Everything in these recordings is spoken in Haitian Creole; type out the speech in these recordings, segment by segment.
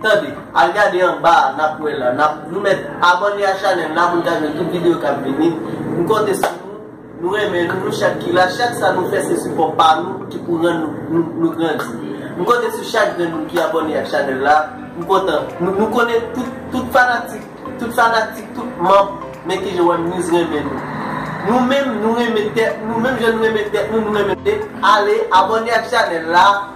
Tande, al gade anba a nap wè la, nap, nou mèt abòne a chanèl la pou n ka jwenn tout videyo kap vini, m konte sou nou, nou renmen nou, nou chak ki la, chak sa nou fè se sipò pa nou ki pou rann nou, nou grandi. M konte sou chak grenn moun ki abòne ak chanèl la, m kontan, nou konnen tout, tout fanatik, tout fanatik, tout manb Men Kijan One News renmen nou. Nou menm nou renmen tèt nou, menm jan nou renmen tèt nou, nou renmen, ale abòne ak chanèl la.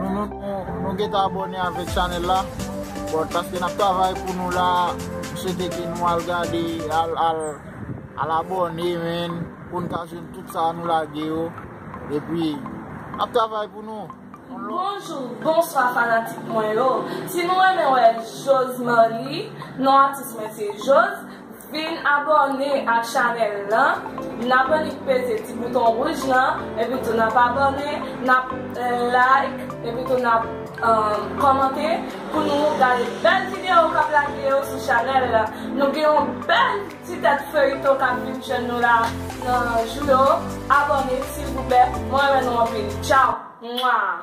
Nou gentan abone avek chanel la. Bon paske nap travay pou nou la. M swete ke nou al gade al abone men. Poun ka jwenn tout sa nou lage yo. E pi nap travay pou nou. Bonjou bonswa fanatik mwen yo si nou renmen wè josmarlie non atis mwen se jos. Vin abòne ak chanèl lan Nap annik peze ti bouton wouj lan Epi tou nap abòne Nap like Epi tou nap kòmante Pou nou gade bèl video kap lage yo sou chanèl la Nou gen yon bèl ti tèt feyton kap vin jwenn nou la nan jou yo Abòne silvouplè Mwen renmen nou anpil Tchaw Mwaa.